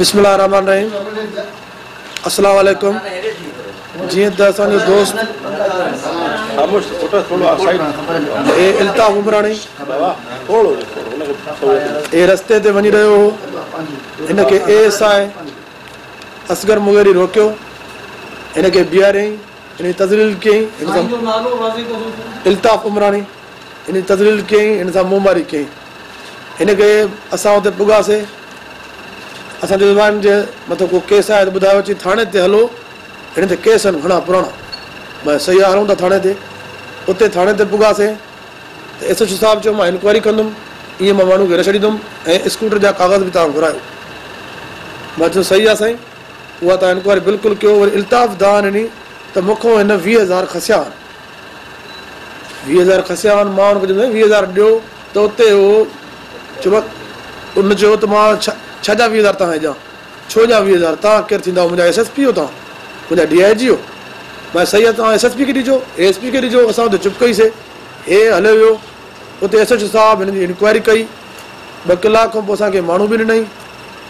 بسم الله الرحمٰن الرحيم السلام عليڪم جيئن ته اسان جو دوست اي الطاف عمراڻي اي رستي تي وڃي رهيو هو ان کي A S I Asghar Mugheri روڪيو ان کي بيهاريائين ان جي تذليل ڪيائين الطاف عمراڻي هن جي تذليل ڪيائين، هن سان منهن ماري ڪيائين. هن ڪري اسان اتي پڳاسي. اسان چيو ته ڀاء هن جي مٿو ڪو ڪيس آهي ته ٻڌايو اچي ٿاڻي تي هلو، هن تي ڪيس آهن گهڻا پراڻا. مئن صحيح آ هلون ٿا ٿاڻي تي. اتي ٿاڻي تي پڳاسي ته ايس ايڇ او صاحب چيو مان انڪوائري ڪندم، ايئن مان ماڻهو کي نه ڇڏيندم ۽ اسڪوٽر جا ڪاغذ به توهان گهرايو. مان چيو صحيح آ سائين، اها توهان انڪوائري بلڪل ڪيو. وري الطاف دانهن ڏني ته مون کان هن ويهه هزار کسيا آهن. ويهه هزار کسيا هئا، مان هن کي چيو، ويهه هزار ڏيو ته اتي هو، چيومانس، هن چيو ته مان ڇا جا ويهه هزار توهان کي ڏيان، ڇو ڏيان ويهه هزار، توهان ڪير ٿيندا، منهنجا ايس ايس پي هيو توهان، منهنجا ڊي آء جي هيو، مان چيس صحيح آهي توهان ايس ايس پي کي ڏجو، اي ايس پي کي ڏجو، اسان اتي چپ ڪئي سي، هي هليو ويو، اتي ايس ايڇ او صاحب هن جي انڪوائري ڪئي، ٻه ڪلاڪ کان پوء اسان کي ماڻهو به ڏنائين،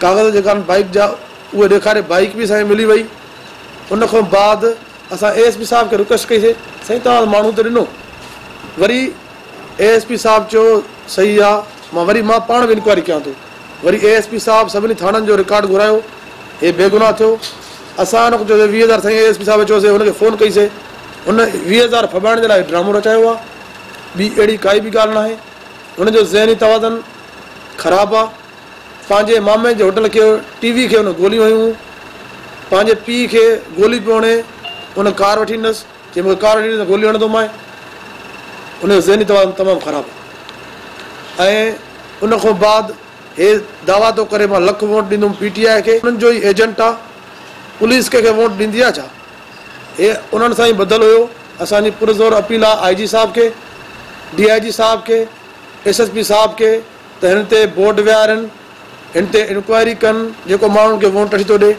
ڪاغذ جيڪا آهن بائيڪ جا اهي ڏيکاري، بائيڪ به اسان کي ملي وئي، ان کان بعد. اسان اي ايس پي صاحب کي رڪويسٽ ڪئي سي سائين توهان ته ماڻهو ته ڏنو وري اي ايس پي صاحب چيو صحيح آ مان وري مان پاڻ به انڪوائري ڪيان ٿو وري اي ايس پي صاحب سڀني ٿاڻن جو رڪارڊ گهرايو هي بيگناهه ٿيو اسان هن کي چيو سي ويهه هزار سائين اي ايس پي صاحب چيو سي هن کي فون ڪئي سي هن ويهه هزار ڦٻائڻ جي لاء هي ڊرامو رچايو آ ٻي اهڙي ڪائي به ڳالهه ناهي هن جو ذهني توازن خراب آ پنهنجي مامي جي هوٽل کي ٽي وي کي هن گوليون هيون. پنهنجي پيء کي گولي پيو هڻي. هن ڪار وٺي ڏنس. چيائين مون کي ڪار وٺي ڏي ته گولي هڻندومانء. هن جو ذهني توازن تمام خراب هو ۽ ان کان بعد هي دعويٰ ٿو ڪري مان لک ووٽ ڏيندوم پي ٽي آء کي. انهن جو ئي ايجنٽ آ. پوليس ڪنهن کي ووٽ ڏيندي آ ڇا؟ هي انهن سان ئي ٻڌل هيو. اسان جي پرزور اپيل آ آء جي صاحب کي، ڊي آء جي صاحب کي، ايس ايس پي صاحب کي، ته هن تي بورڊ ويهارين، هن تي انڪوائري ڪن، جيڪو ماڻهن کي وونٽ اڇ ٿو ڏي،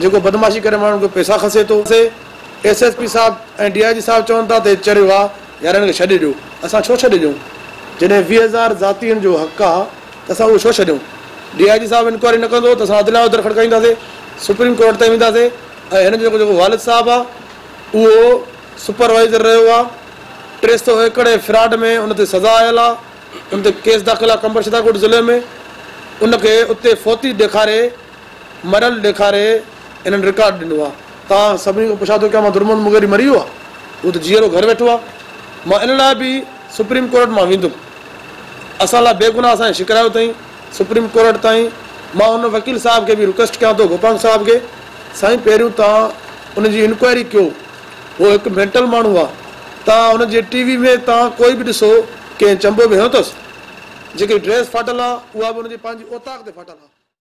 جيڪو بدمعاشي ڪري ماڻهن کان پئسا کسي ٿو. ايس ايس پي صاحب ۽ ڊي آء جي صاحب چون ٿا ته هي چريو آ، يار هن کي ڇڏي ڏيو. اسان ڇو ڇڏي ڏيون؟ جڏهن ويهه هزار ذاتين جو حق آ ته اسان اهو ڇو ڇڏيون؟ ڊي آء جي صاحب انڪوائري نه ڪندو ته اسان عدليه جو در کڙڪائينداسي، سپريم ڪورٽ تائين وينداسي ۽ هن جو جيڪو والد صاحب آ اهو سپروائيزر رهيو آ، ٽي سؤ ايڪڙ جي فراڊ ۾ ان تي سزا آيل آ. ان تي ڪيس داخل آهي قمبر ڇترڪوٽ ضلعي ۾ ان کي اتي فوتي ڏيکاري مريل ڏيکاري انهن رڪارڊ ڏنو آهي توهان سڀني کان پڇان ٿو ڪيان مان درمحمد مغيري مري ويو آهي هو ته جيئرو گهر ويٺو آهي مان ان لاء به سپريم ڪورٽ مان ويندم اسان لاء بيگناهه اسان کي شڪرايو اٿائين سپريم ڪورٽ تائين مان ان وڪيل صاحب کي به رڪويسٽ ڪيان ٿو گوپانگ صاحب کي سائين پهريون توهان ان جي انڪوائري ڪيو هو هڪ مينٽل ماڻهو آ. توهان هن جي ٽي وي ۾ توهان ڪوئي به ڏسو ڪنهن چنبو به هنيو اٿس. جيڪي ڊريس ڦاٽل آ اها به هن جي پنهنجي اوطاق تي ڦاٽل آ.